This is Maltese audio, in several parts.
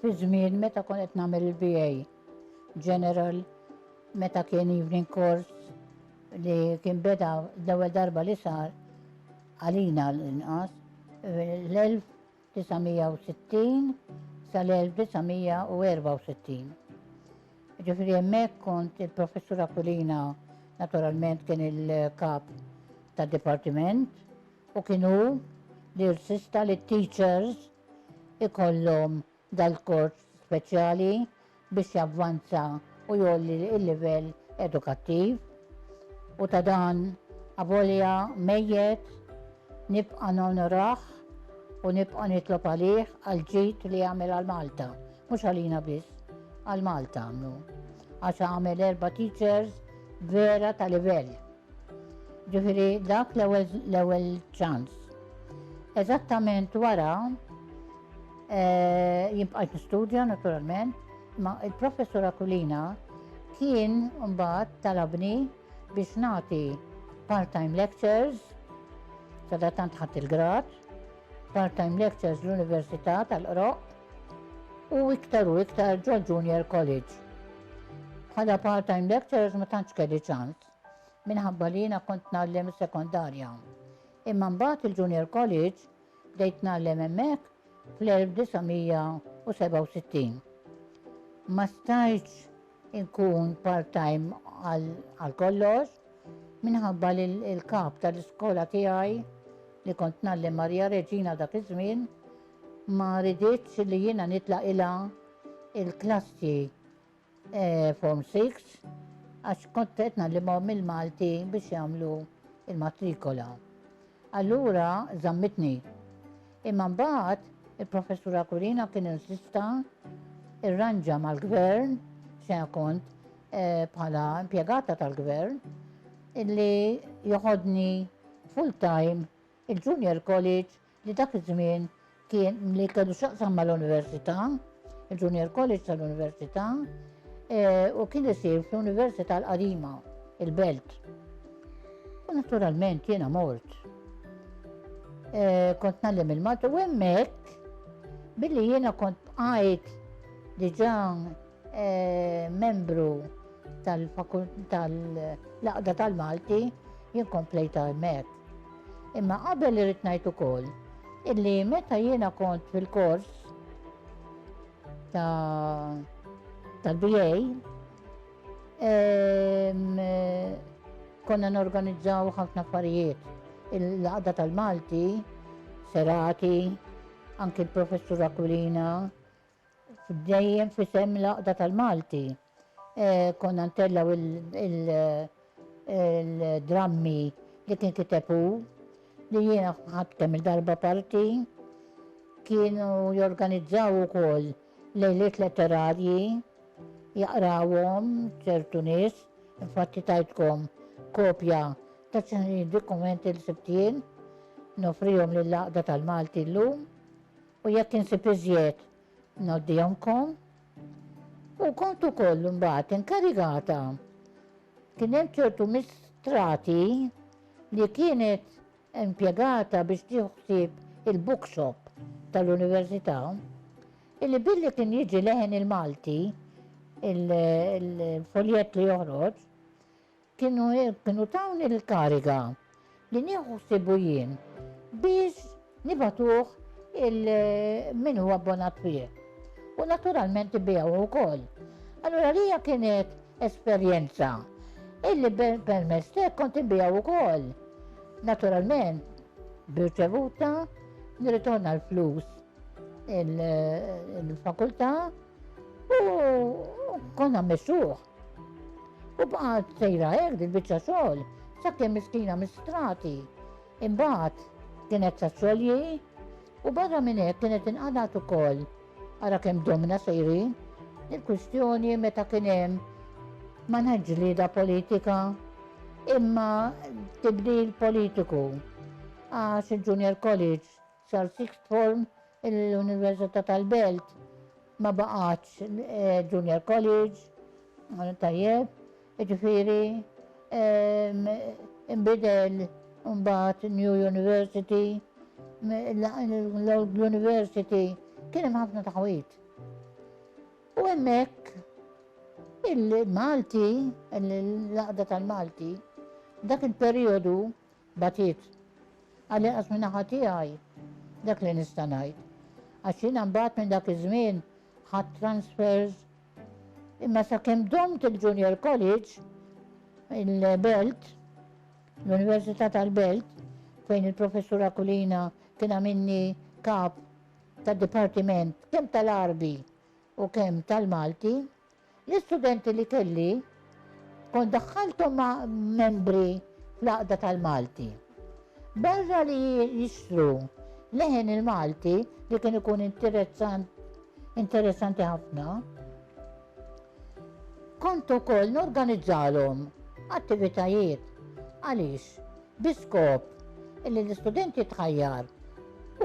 Fi żmien meta kont qed nagħmel il-BA General, meta kien evening course li kien beda l-ewwel darba li sar, għalina l-inqas, l-1960 sal-1964. Ġifri hemmhekk kont il-Professur Aquilina naturalment kien il-kap tad dipartiment u kienu li rsista li teachers ikollhom dal-kors speċjali biex javvanza u jgħolli l-livell edukattiv u ta' dan avolja mejjet nibqa' nonorah u nibqa' nitlob għalih għall-ġid li għamel għal Malta, mhux għalina biss, għal Malta għamlu. Għax għamel erba' teachers vera ta' livell. Ġifieri dak l-ewwel ċans. Eżattament wara eh, jibqajt nistudja naturalment, ma il-professur Akulina kien mbagħad talabni biex nagħti part-time lectures, sada tant ħadd il-grad, part-time lectures l-Università tal-Qroq u iktar u iktar ġol Junior College. Bħala part-time lectures ma tantx kelli ċans. minħabba li jiena kont ngħallem is-sekondarja. Imma mbagħad il-Junior College bdejt ngħallem hemmhekk fl-1967. Ma stajtx inkun part-time għal kollox minħabba li l-kap tal-iskola tiegħi li kont ngħallem Maria Reġina dak iż-żmien ma riditx li jiena nitlaq ilha il-klassi Form Six, għax kont qed nagħlimhom il-Malti biex jagħmlu il-matrikola. Allura żammitni. Imma mbagħad il-professur Akurina kien insista irranġa mal-gvern se kont eh, bħala impjegata tal-gvern illi joħodni full time il-junior college li dak iż-żmien kien li kellu x'jaqsam mal-Università, il-Junior College tal-Università, eh, u kien isir fl-Università l-Qadima, il-Belt. U naturalment jiena mort. Eh, kont nallim il-Malta u hemmhekk billi jiena kont bqajt diġà Membru tal-Għaqda tal-Malti jien komplejt għajmet. Imma qabel irrid ngħid ukoll illi meta jiena kont fil-kors tal-BA konna norganizzaw ħafna affarijiet. Il-laqda tal-Malti, serati, anki l-professur Aquilina, Dejjem f'isem l-Għaqda tal-Malti konna ntellgħu il-drammi li kien kiteb hu, li jiena ħadt kemm-il darba parti. Kienu jorganizzaw ukoll lejliet letterarji, jaqrawhom ċertu nies, infatti tajtkom kopja ta' xi dokumenti li sibt jien, nofrihom lill-Għaqda tal-Malti llum. U jekk insib iżjed, ngħoddihomkom. U kont ukoll imbagħad inkarigata. Kien hemm ċertu mistrati li kienet impjegata biex tiħsib il-bookshop tal-Università, illi billi kien jiġi leħen il-Malti, il-foljett li joħroġ, Kienu tawni l-kariga li nieħu ħsiebu jien biex nibagħtuh il-min hu abbonat fih. U naturalment ibigħuh ukoll. Allura lija kienet esperjenza illi permezz tek kont inbigħu ukoll. Naturalment, birċevuta, nirritorna l-flus il-fakultà u konna mesuħ. U bqgħet sejra hekk dil-biċċa xogħol sakemm miskina mistrati. Imbagħad kienet sa xogħolji u barra minn hekk kienet inqadat ukoll ara kemm domna sejrin il-kwistjoni meta kien hemm ma ġlieda politika imma tibdil politiku għax il-Junior College Sar sixth form l-Università tal-Belt ma baqgħetx junior college, tajjeb, jiġifieri inbidel imbagħad new university, l-old university kien hemm ħafna taħwid. U hemmhekk il-Malti, l-għaqda tal-Malti, dak il-perjodu Bagħtiet. Għall-inqas min-naħa tiegħi dak li nista' ngħid. Għax jiena mbagħad minn dak iż-żmien ħadt transfers imma sakemm domt il-Junior College, il-Belt, l-Università tal-Belt, fejn il-Professur Aquilina kien għamilni kap tad-dipartiment kemm tal-Għarbi u kemm tal-Malti, L-istudenti li kelli kont daħħalthom ma' membri fl-Għaqda tal-Malti. Barra li jixtru leħen il-Malti li kien ikun interessanti ħafna, kont ukoll norganizzalhom attivitajiet għaliex biskop li l-istudenti tħajjar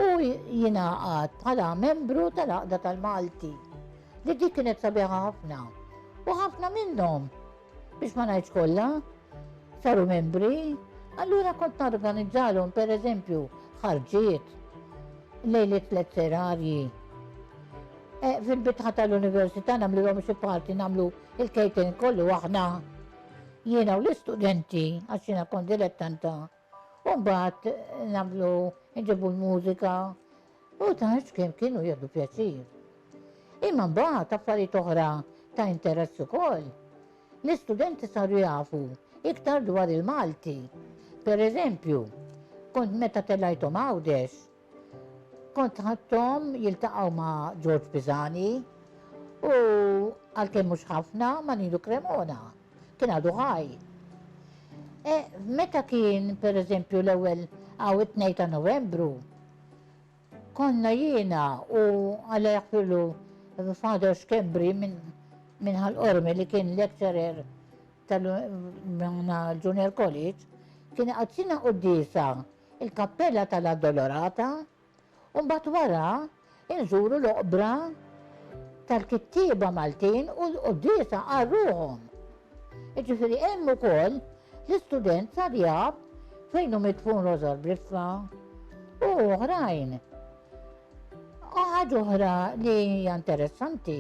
u jingħaqad bħala membru tal-Għaqda tal-Malti. li dik kienet sabiħa ħafna. U ħafna minnhom, biex ma ngħidx kollha, saru membri, allura kont narganizzalhom pereżempju ħarġiet lejliet tliet serarji. E, Fil-bitħa tal-università nagħmluhom xi parti nagħmlu il-kejten kollu aħna. Jiena u l-istudenti għax jiena kont dilettanta U mbagħad nagħmlu nġibu l-mużika u tgħid kemm kienu jieħdu pjaċir. Imma mbagħad affarijiet oħra ta' interess ukoll. L-istudenti saru jafu iktar dwar il-Malti. Per eżempju, kont meta telajthom Għawdex, Kont ħadthom jiltaqgħu ma' Ġorġ Pisani u għalkemm mhux ħafna ma' Ninu Cremona. Kien għadu ħaj. E, meta kien pereżempju l-ewwel għaw it-2 ta' Novembru, konna jiena u għalli jaħfirlu Father Schembri minn min ħal-qormi li kien lecturer tal-Junior College, kien għazzina u d-disa il-Kappella tal-Addolorata u mbagħad wara nżuru l-oqbra tal-kittieba Maltin u l-quddiesa għal ruħhom. Jiġifieri hemm ukoll l-istudent tal-Jab fejn hu midfun Rożor Briffa u oħrajn. U ħaġa oħra li hija interessanti,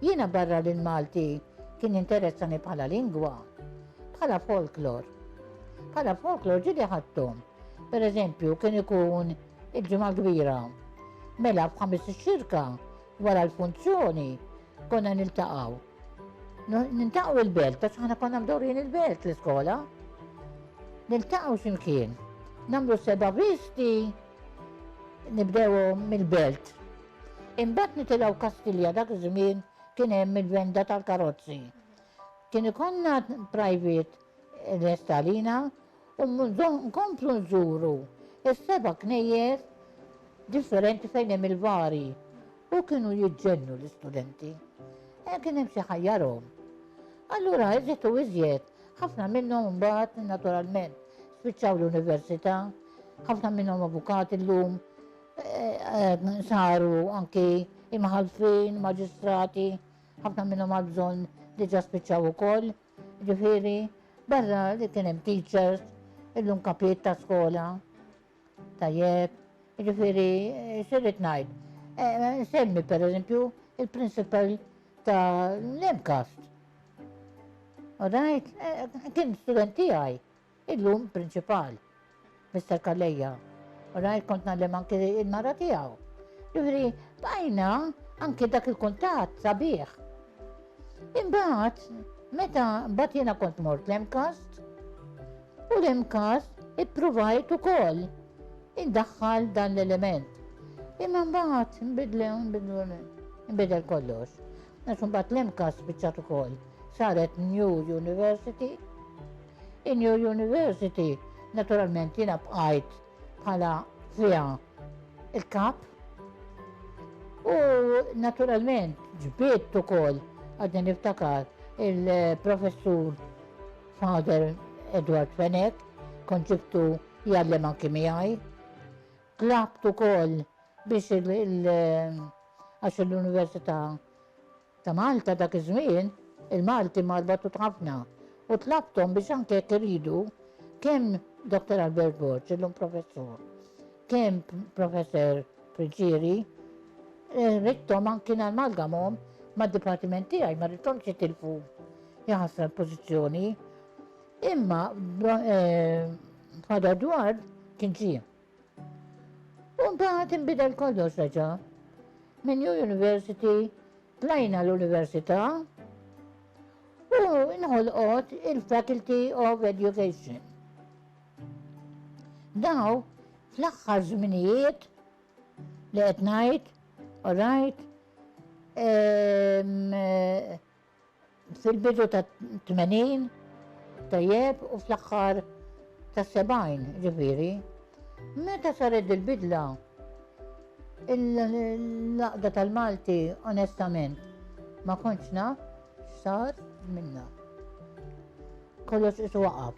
jiena barra li l-Malti kien jinteressani bħala lingwa, bħala folklor. Bħala folklor ġili ħadthom. Per eżempju, kien ikun il-ġimgħa kbira. Mela f'ħames ix-xirka wara l-funzjoni konna niltaqgħu. Niltaqgħu il-belt, għax aħna konna mdorrin il-belt l-iskola. Niltaqgħu x'imkien. Namlu seba' visti Nibdew mill-Belt. Imbagħad nitilgħu Kastilja dak iż-żmien kien hemm il-venda tal-karozzi. Kien ikonna private l-estalina u nkomplu nżuru is-seba' knejjes differenti fejn hemm il-vari u kienu jiġġennu l-istudenti. E kien hemm xi ħajjarhom. Allura iżjed u iżjed Ħafna minnhom imbagħad, naturalment, spiċċaw l-università, ħafna minnhom avukati llum, saru anki imħalfin, maġistrati, ħafna minnhom għal bżonn diġà spiċċaw ukoll. Ġifieri, barra li kien hemm teachers, illum kapijiet ta' skola, Tajjeb, jiġifieri x'irrid ngħid? Nsemmi eh, pereżempju il-prinċipal ta' l-MCAST. Alright, eh, kien student tiegħi, illum prinċipal, Mr. Kalleja. Alright, kont nagħlem anki il-mara tiegħu. Jiġifieri bajna anki dak il-kuntatt sabiħ. Imbagħad, meta mbagħad jiena kont mort l-MCAST, U l-MCAS ippruvajt ukoll iddaħħal dan l-element. Imma mbagħad nbidlew nbidlu nbidel kollox. Għax mbagħad l-MCAS biċċat ukoll saret New University. In New University naturalment jiena bqajt bħala fiha il-kap U naturalment ġbiet ukoll għadni niftakar il-professur Father Edward Fenech, kont ġibtu jgħallem anki miegħi. Tlabt ukoll biex għax l-Università ta' Malta dak iż-żmien il-Malti marbatu ħafna u tlabtom biex anke jekk iridu kemm Dr. Albert Borg, illum professur, kemm professor Friġieri, eh, rittom anki nalmalgamhom mad-dipartiment tiegħi ma rittomx jitilfu Hija ħasra l-pożizzjoni. Imma Father Edward kien ġie. U mbagħad inbidel kollox reġa'. Minn New University tlajna l-Università u inħolqot il-Faculty of Education. Daw fl-aħħar żminijiet li qed ngħid, orajt, Fil-bidu tat-tmenin, tajjeb, u fl-aħħar tas-sebgħin, ġifieri, meta saret dil-bidla, il-laqda tal-Malti onestament ma kontx naf x'sar minnha. Kollox isu waqaf.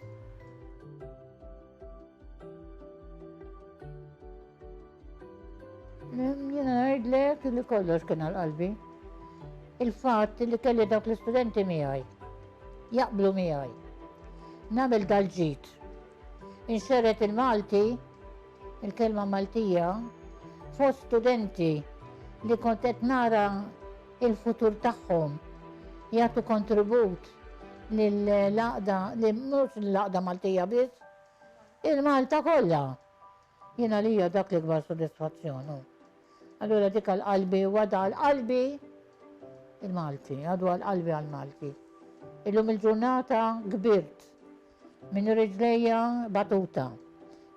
Jena ngħidlek li kollox kien għal qalbi. Il-fatt li kelli dawk l-istudenti miegħi jaqblu miegħi. Nagħmel dal-ġid. Inxeret il-Malti, il-kelma Maltija, fost studenti li kont qed nara il-futur tagħhom, jagħtu kontribut lill-għaqda, mhux lill-għaqda Maltija biss, il-Malta kollha. Jien għalija dak l-ikbar sodisfazzjon. Allura dik għal-qalbi, għada għal-qalbi il-Malti, għadu għal-qalbi għal-Malti. Illum il-ġurnata kbirt Minn riġlejja batuta.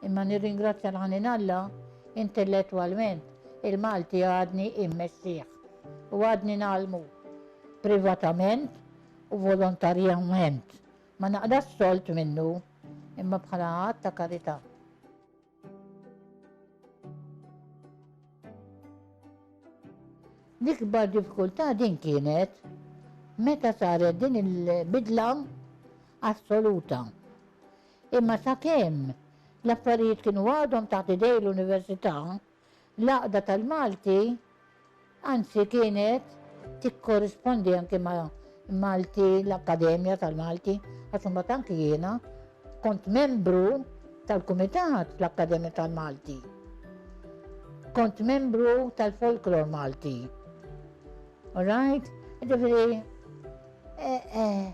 Imma nirringrazzja l-ħanin Alla, intellettwalment, il-Malti għadni immexxih u għadni ngħallmu. Privatament u volontarjament ma naqdax solt minnu, imma bħala att ta' karità. L-ikbar diffikultà din kienet meta saret din il-bidla assoluta. Imma sakemm l-affarijiet kienu għadhom taħt idej l-Università, L-Għaqda tal-Malti anzi kienet tikkorrispondi anki ma' Malti, l-Akkademja tal-Malti, għax imbagħad anki jiena kont membru tal-Kumitat fl-Akkademja tal-Malti. Kont membru tal-Folklor Malti. All right? Ġifieri Eh, eh,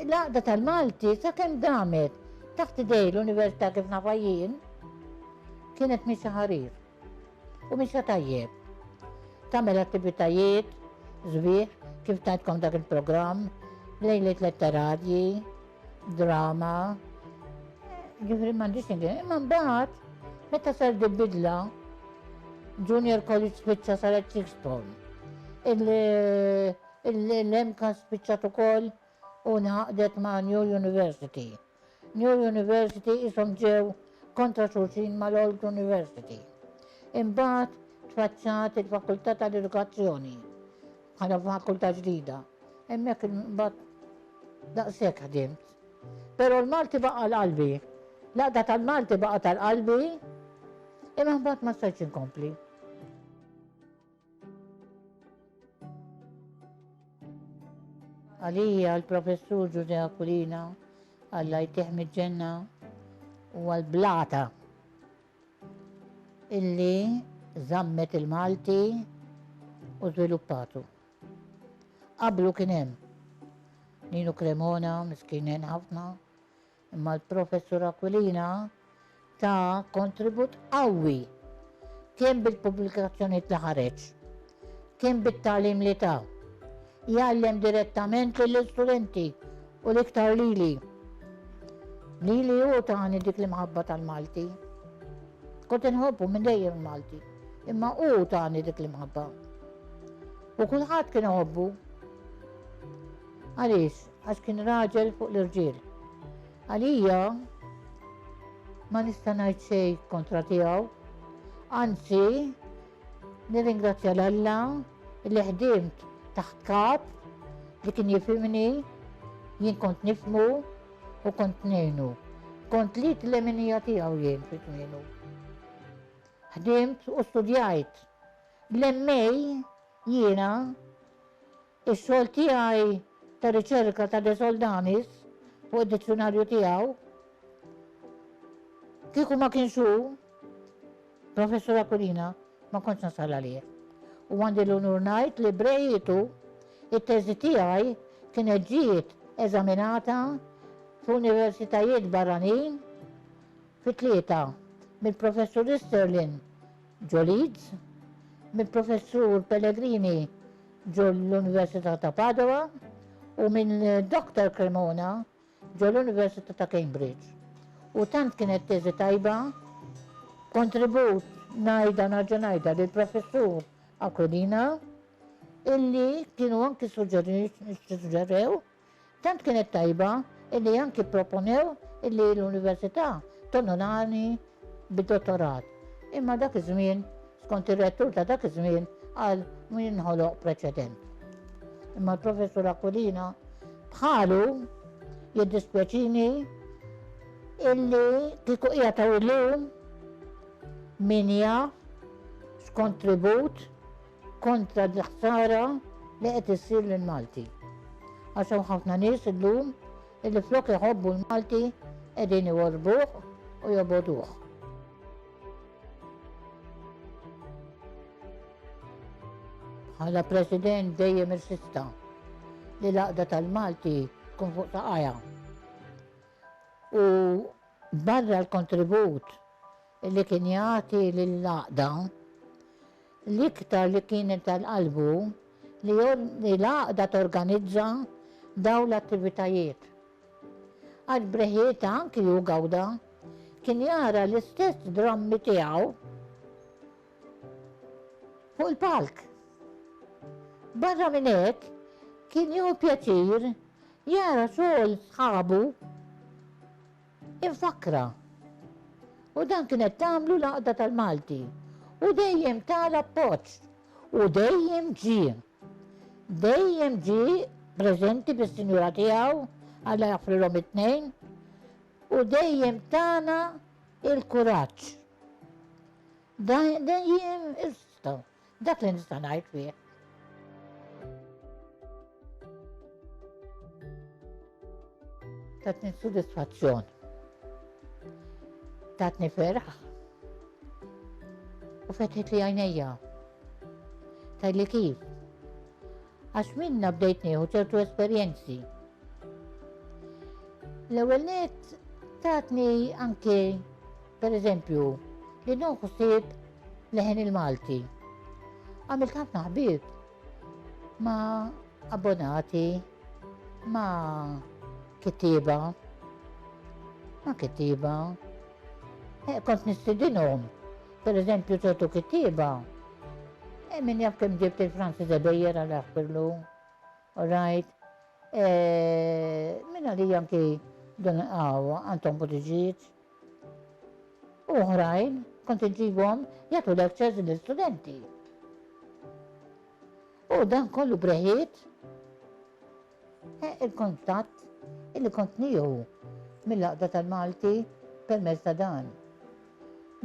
l-għaqda tal-Malti sa' kem damet taħt idej l-Univerta kif nafajjien kienet misa ħarir u misa tajjeb. Tamel attivitajiet, zbieħ, kif tajtkom dak il-program, lejlet letteradji, drama, ġifri mandiċ ingħin, imma mbagħad meta sar bidla Junior College Pizza saret Sixpol. Il-Junior Il-MCAST spiċċat ukoll u ngħaqdet ma' New University. New University qishom ġew kontra xulxin mal-Old University. Imbagħad tfaċċat il-Fakultà tal-Edukazzjoni bħala fakultà ġdida. Hemmhekk imbagħad daqshekk ħdimt. Però l-Malti baqa' l-qalbi. L-għaqda tal-Malti baqa' tal-qalbi imma mbagħad ma stajtx inkompli. Għalija l-Professur Ġużè Aquilina, Alla jtieh miġ-ġenna, huwa l-blata illi żammet il-Malti u żviluppatu. Qablu kien hemm Ninu Cremona, miskinen ħafna, Imma l-Professur Aquilina ta kontribut qawwi kemm bil-pubblikazzjonijiet li ħareġ, kemm bit-tagħlim li ta. Jgħallem direttament lill-istudenti u l-iktar lili. Lili hu tani dik l-imħabba tal-Malti. Kont inħobbu minn dejjem il-Malti, imma hu tani dik l-imħabba. U kulħadd kien iħobbu. Għaliex? Għax kien raġel fuq l-irġiel. Għalija ma nista' ngħid xejn kontra tiegħu. Anzi, nirringrazzja l Alla li ħdimt taħt kap li kien jifimni, jien kont nifmu u kont nejnu. Kont li t-leminija tiegħu jien fit nejnu. Ħdimt u studjajt. L-emmej jiena Ix-xogħol tiegħi ta' riċerka ta' De Soldanis fuq id-dizzjunarju tiegħu, kieku ma kienx hu, Professur Aquilina, ma kontx nasal għalih. U għandi l-unur ngħid li b'reħitu it-teżi tiegħi kienet ġiet eżaminata f'universitajiet barranin fi tlieta mill-Professur Easterlin ġo Leeds, mill-Professur Pellegrini ġol-Università ta' Padova u minn Doctor Cremona ġol-Università ta' Cambridge. U tant kienet teżi tajba, kontribut ngħidha narġa' ngħidha lill-Professur Aquilina illi kienu anki suġġerew Tant kienet tajba illi anki pproponew illi l-Università tonorani bid-dottorat, imma dak iż-żmien, skont ir-Rettur ta' dak iż-żmien, qal min jinħoloq preċedent. Imma l-Professur Aquilina bħalu, Jiddispjaċini illi kieku qiegħed hawn illum, min jaf x'kontribut kontra l-ħsara li qed issir lill-Malti. Għax hawn ħafna nies illum illi flok iħobbu l-Malti qegħdin iworbuh u joboduh. Għala President dejjem irsista li l-aqda tal-Malti tkun fuq saqajja. U barra l-kontribut li kien jagħti lill-għaqda, l-iktar li kienet għal qalbu li l-għaqda torganizza dawn l-attivitajiet. Għax breħieta anki hu gawda kien jara l-istess drammi tiegħu fuq il-palk. Barra minn hekk kien jew pjaċir jara xogħol sħabu Infakkrha. U dan kienet tagħmlu l-Għaqda tal-Malti. U dejjem ta l-appoġġ. U dejjem ġie. Dejjem ġie preżenti bis-sinjura tiegħu, Alla jaħfrilhom it-tnejn, u dejjem tana l-kuraġġ. Dejjem issa. Dak li nista' ngħid fih. Tatni sodisfazzjon. Tatni ferħ. U fetħet li għajnejja. Tajli kif? Għax minnha bdejt nieħu ċertu esperjenzi. L-ewwel nett tatni anke pereżempju li noħu sib leħen il-Malti. Għamilt ħafna ħbieb ma abbonati, ma kittiba, ma kittiba. Eh, kont nistidinhom Per eżempju ċertu kittieba, e min jaf kemm ġibt il-Franzi Debejjer għal aħbirlu, all right, e, min għalija anki dan għaw Anton Buttigieg, uħrajn kont iġibhom jagħtu lectures lill-studenti. U dan kollu breħiet Il-kuntatt illi kont nieħu mill-Għaqda tal-Malti permezz ta' dan.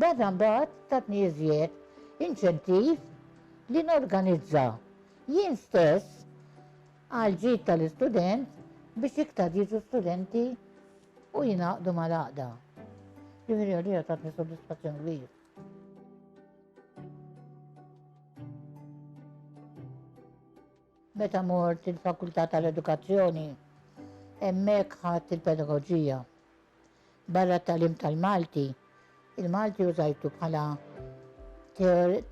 Data mbagħad tatni iżjed inċentiv li norganizza jien stess għall-ġid tal-istudent biex iktar jiġu studenti u jingħaqdu mal-Għaqda. Ġifieri għalija tatni soddisfazzjon kbir. Meta mort il-Fakultà tal-Edukazzjoni, hemmhekk ħadt il-Pedagoġija. Barra t-tagħlim tal-Malti, il-Malti użajtu bħala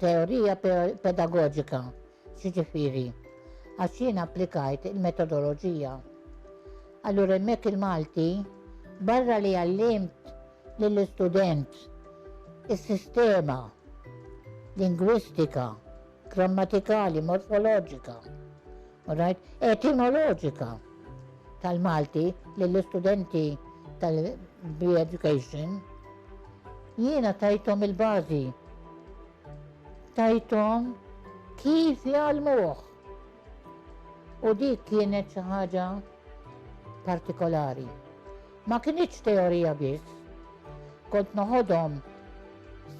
teorija pedagoġika, x'jiġifieri, għax jien applikajt il-metodoloġija. Allura hemmhekk il-Malti, barra li għallimt lill-istudent is-sistema lingwistika, grammatikali, morfoloġika, all right, etimoloġika tal-Malti lill-istudenti tal-education, jiena tajtom il-bażi, tajtom kif jgħalmuh. U dik kienet xi ħaġa partikolari. Ma kienx teorija biss, kont noħodhom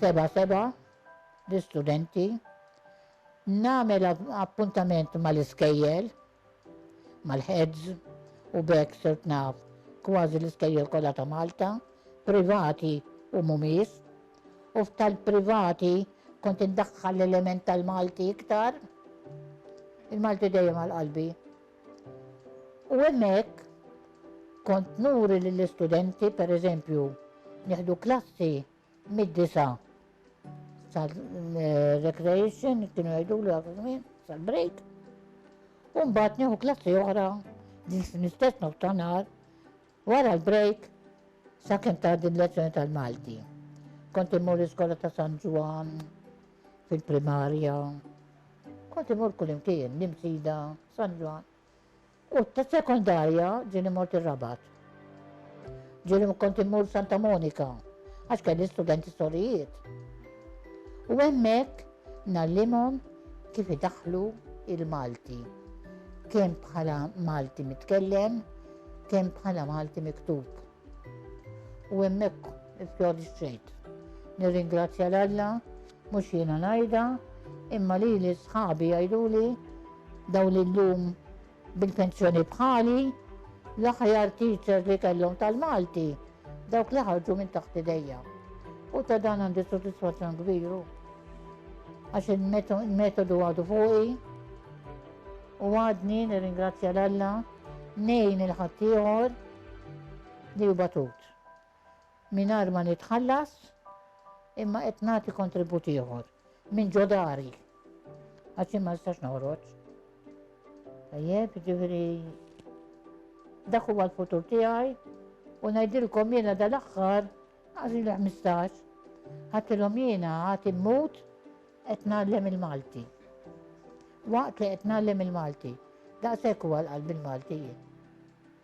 seba seba l-istudenti, nagħmel appuntament mal-iskejjel, mal-heads, u b'hekk sirt naf kważi l-iskejjel kollha ta' Malta, privati u mhumiex, u f'tal-privati kont indaħħal l-element tal-Malti iktar, il-Malti dejjem għal qalbi. U hemmhekk kont nuri lill-istudenti, pereżempju, nieħdu klassi Mid-disa' sal-recreation, kienu jgħidu li għafu żmien, sal-break. U mbagħad nieħu klassi oħra, l-istess nof ta' nar, wara l-break, sa' kem ta' din lezzjoni tal-Malti. Kont immur l-iskola ta' San Ġwan, fil-primarja, kont immur kull imkien, nimsida, San Ġwan. U tas-sekondarja ġieli mort ir-Rabat. Ġieli kont immur Santa Monika għax kelli studenti sorijiet. U hemmhekk ngħallimhom kif idaħħlu il-Malti, kemm bħala Malti mitkellem, kemm bħala Malti miktub. U hemmhekk ifjoġġejt. Nirringrazzja l Alla, mhux jiena ngħidha, imma lili sħabi jgħiduli daw li llum bil-pensjoni bħali l-aħjar teacher li kellhom tal-Malti dawk li ħarġu minn taħt idejja. U ta' dan għandi soddisfazzjon kbiru. Għax il-metodu għadu fuqi u għadni nirringrazzja l-Alla nejn il-ħaddieħor li hu batut, mingħajr ma nitħallas, imma qed nagħti kontribut ieħor minn ġo dari. Għax jien ma nistax noħroġ. Tajjeb, ġifieri dak huwa l-futur tiegħi u ngħidilkom jiena dal-aħħar għażi li 15 ħatilhom jiena għati mmut qed nagħllem il-Malti. Waqt li qed nagħllem il-Malti, daqshekk huwa l-qalb il-Malti jien.